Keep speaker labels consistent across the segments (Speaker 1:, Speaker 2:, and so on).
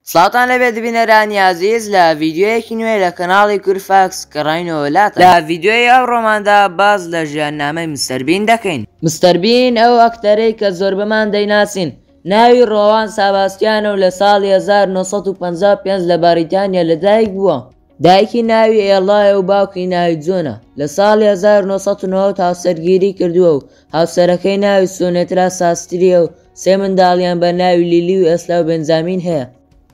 Speaker 1: سڵاوتان لێبێت بینەرانی ئازیز لە ڤیدیۆیەکی نوێ لە کەناڵی کورد فاکس گەڕاینەوە لاتان لە ڤیدیۆی ئەوڕۆماندا باس لە ژیان نامەی مستەر بین دەکەین مستەر بین ئەو ئەکتەرەی کە زۆربەمان دەیناسین ناوی ڕۆوان ساباستیانە و لە ساڵی هەزار و نۆ سەد و پەنجا و پێنج لە بەڕیتانیا لەدایک بووە. دایکی ناوی ئێڵایە و باوکی ناوی جۆنە، لە ساڵی هەزار و نۆ سەد و نەوەد هاوسەرگیری کردووە و هاوسەرەکەی ناوی سونێترا ساسترییە و سێ منداڵیان بە ناوی لیلی و ئێسلا و بێنجامین هەیە.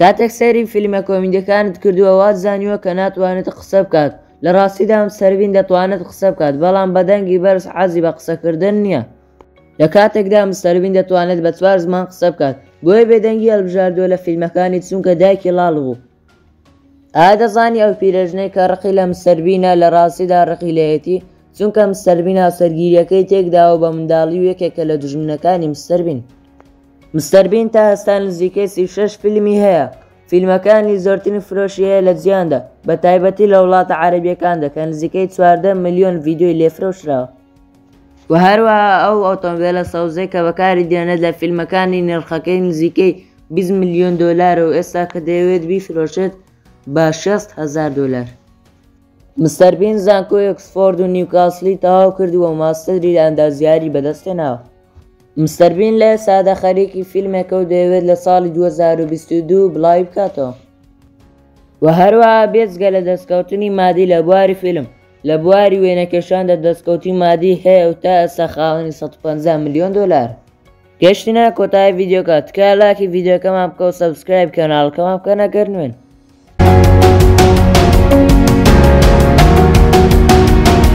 Speaker 1: کاتێک سەیری فیلمە کۆمیدیەکانت کردووە وات زانیوە کە ناتوانێت قسە بکات، لە ڕاستیدا مستەر بین دەتوانێت قسە بکات بەڵام بە دەنگی بەرز حەزی بە قسەکردن نییە، لە کاتێکدا مستەر بین دەتوانێت بە چوار زمان قسە بکات، بۆیە بێدەنگی هەڵبژاردووە لە فیلمەکانی چونکە دایکی ڵاڵ بوو. ئایا دەزانی ئەو پیرەژنەی کە ڕقی لە مستەر بینە لە ڕاستیدا ڕقی لێیەتی چونکە مستەر بین هاوسەرگیریەکەی تێکداوە بە منداڵی و یەکێکە لە دوژمنەکانی مستەر بین مستەر بین تا هەستا نزیکەی سی شەش فیلمی هەیە فیلمەکانی زۆرترین فرۆشی هەیە لە جیاندا بە تایبەتی لە وڵاتە عەرەبیەکاندا کە نزیکەی چواردە ملیۆن ڤیدیۆی لێفرۆشراوە وە هەروەها ئەو ئۆتۆمبێلە سەوزەی کە بەکاری دێنێت لە فیلمەکانی نرخەکەی نزیکەی بیست ملیۆن دۆلارە و ئێستا کە دەیەوێت بیفرۆشێت بە شێست هەزار دۆلار. مستەر بین زانکۆی ئۆکسفۆرد و نیوکاسڵی تەواو کردووە و ماستەری لە ئەندازیاری بەدەستهێناوە. مستەر بین لە ئێستادا خەریکی فیلمێکە و دەیەوێت لە ساڵی دوو هەزار و بیست و دوو بڵاویبکاتەوە و هەروەها بێجگە لە دەستکەوتنی مادی لە بواری فیلم، لە بواری وێنەکێشاندا دەستکەوتی مادی هەیە و تا ئێستا خاوەنی 150 ملیۆن دۆلارە. گەشتینە کۆتایی ڤیدیۆکە تکا لاکی ڤیدیۆکەمان بکە و سەبسکرایب کەناڵەکەمان بکەن ئەگەر نوێن.